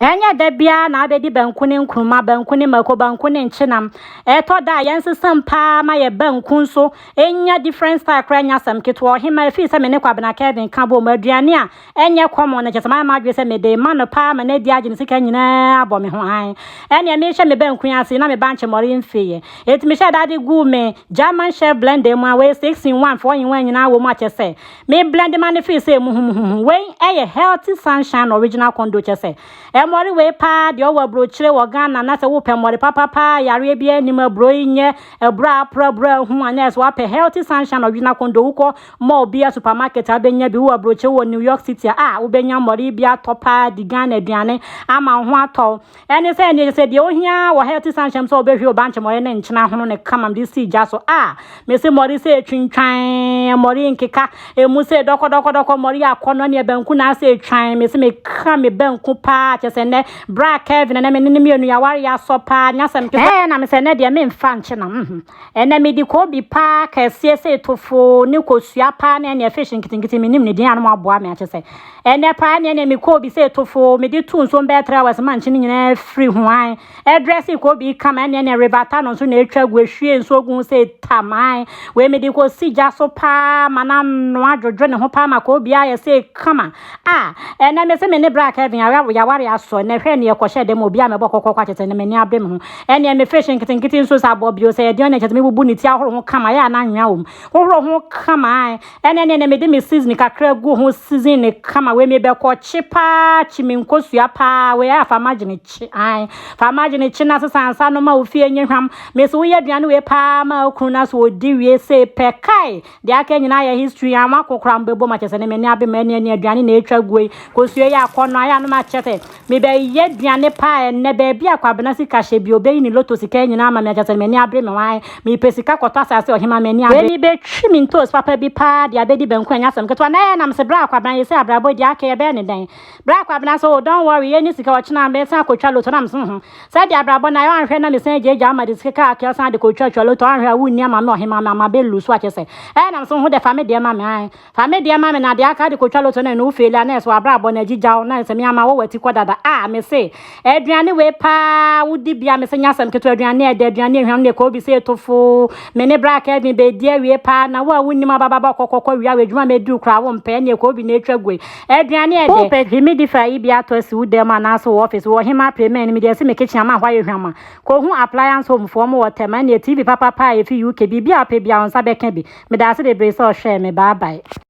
Ɛnyɛ da biara na abɛdi banku ne nkruma, banku ne mako, banku ne nkyenam. Ɛtɔ da a yɛnsesam paa ma yɛ banku nso nya different style koraa nya asɛm ketewa. Ɔhema, ɛfiri sɛ me ne Kwabena Kelvin ka bom, aduane a ɛnyɛ common no kyerɛ sɛ mayɛ m'adwene sɛ mede rema no paa ma no adi agye ne sika nyinaa abɔ me ho hann. Ɛnneɛ mehwɛ me banku yi ase yi na me bankye mmɔre mfeeɛ. Enti mehyɛɛ da de guu me German chef blender mu a wei 6 in 1, 4 in 1 nyinaa wɔ mu a kyerɛ sɛ Me blend ma no feel sɛ muhumuhumu. Wei ɛyɛ healthy sunshine original condo kyɛ sɛ ɛmɔre wei paa deɛ ɔwɔ aburokyire wɔ Ghana na sɛ wopɛ mɔre papa paa yareɛ biara nim aburo yi nyɛ aburo a apra aburo a ahu anyɛ sɛ wapɛ healthy sunshine original condo wokɔ mall bia supermarket a wobɛnya bi wowɔ aburokyire wɔ New York City a a wobɛnya mɔre yi bi atɔ paa di Ghana aduane ama wo ho atɔ wo Ɛne sɛ ɛneɛ sɛ deɛ ohia wɔ ha ɛte saa nhyɛm sɛ ɔbɛhwie wo bankye mmɔre ne nkyena hono ne kamam de si gya so a mese mmɔre sɛ ɛtwintwan mmɔre nkeka ɛmu sɛ dɔkɔdɔkɔdɔkɔ mmɔre akɔ no ɛneɛ banku na asɛ ɛtwan mese meka me banku paa kyɛ sɛ nnɛ bra Kevin ɛnɛ me ne ne mmienu yɛaware yɛasɔ paa nyasɛm ɛɛ na mesɛ nnɛ deɛ memfa nkye nam Ɛnɛ mede kobi paa kɛseɛ sei to foo ne kosua paa ne ɛneɛ fish nketenkete menim ne din a no moaboa me akyɛ sɛ ɛnɛ paa ɛneɛ neɛ me kobi sei to foo mede to nsuom bɛyɛ 3 hours ma nkyene nyinaa firi hoan ɛdrɛse kobi kama ɛneɛ neɛ river ta no nso na ɛtwa gu ɛhwie nsuo gu ho sei taman wei mede kɔsi gya so paa ma no anoa dwodwo ne ho paa ma kobi ayɛ sei kama a ɛnɛ me se me ne bra Kevin yɛaware asɔ ɛnɛ hwɛ neɛ kɔhyɛ dɛ ma obi a mɛbɔ kɔkɔkɔ akyɛ sɛ ne m'ani abe me ho Ɛnneɛ me fish nketenkete nsuo saa bɔ bio sɛ yɛde ɔnyɛ kyɛ sɛ mebubu ne ti ahoro ho kama yɛ a na anwea wɔ mu hohoro ho kama ae ɛnɛ ne ɛnɛ mede me season kakra gu ho season ne kama wei mebɛkɔ kye paa kye me nkosua paa wei ayɛ fa magye ne kye ae fa magye ne kye na sesa ansa no ma wo fie nye hwam mesi woyɛ aduane wei paa ma okunu na so odi wie sei pɛ kae Deɛ aka nyinaa yɛ history a mako koraa mbɛbom akyɛ sɛ ne m'ani abe m'ani ani aduane na ɛtwa guo yi kosua yi akɔ no ayɛ anom akyɛ sɛ mebɛyɛ aduane paa ɛnnɛ baabi a kwabena sika hyɛ bi ɔbɛyi ne lotto sika nyinaa ama me akyɛ sɛ ne m'ani abere me waan mepɛ sika kɔtɔ asase ɔhema m'ani abere me bɛtwi me ntoos papa bi paa de abɛdi banku ɛnyɛ asɛm ketewa na ɛyɛ nam se bra kwabena yɛsɛ abrabɔ yi deɛ aka yɛbɛyɛ ne dɛn bra kwabena sɛ oh don't worry yɛnni sika ɔkyena mɛsan akɔtwa lotto nam se ho. Sɛ de abrabɔ na yɛ anhwɛ na me san gya gya ama de sika kaa kɛ san de kɔ twa twa loto anhwɛ a wo nni ama me ɔhe ma me ama bɛ lu so akyɛ sɛ ɛɛ nam so ho dɛ fa me deɛ ma me ae fa me deɛ ma me na de aka de kɔ twa loto na ɛno wo feli a na ɛso abrabɔ na agyi gyaw na sɛ me ama wɔ wati kɔ dada a me se aduane wei paa wo di bia me se nya sɛm ketewa aduane ɛdɛ aduane ahuam ne kɔ obi se eto fo me ne bra Kevin bɛ di awie paa na wo a wo nnim abababa kɔ kɔ kɔ wia wɔ adwuma mɛ di wo kura wo mpɛ ɛne kɔ obi na atwa gue Aduane a ɛdɛ. Wopɛ humidifier yi bi atɔ asi wo dan mu anaasɛ wo office? Wɔ Hemaa Premier no, mede asi me kitchen ama hɔ ayɛ hwama. Kohu Appliance Home foɔ, wɔwɔ Tɛm. Ɛnneɛ TV papapaa a ɛfiri UK, biribiara a wopɛ biara, wo nsa bɛka bi. Medaase bebree sɛ ɔhwɛɛ me. Bye bye.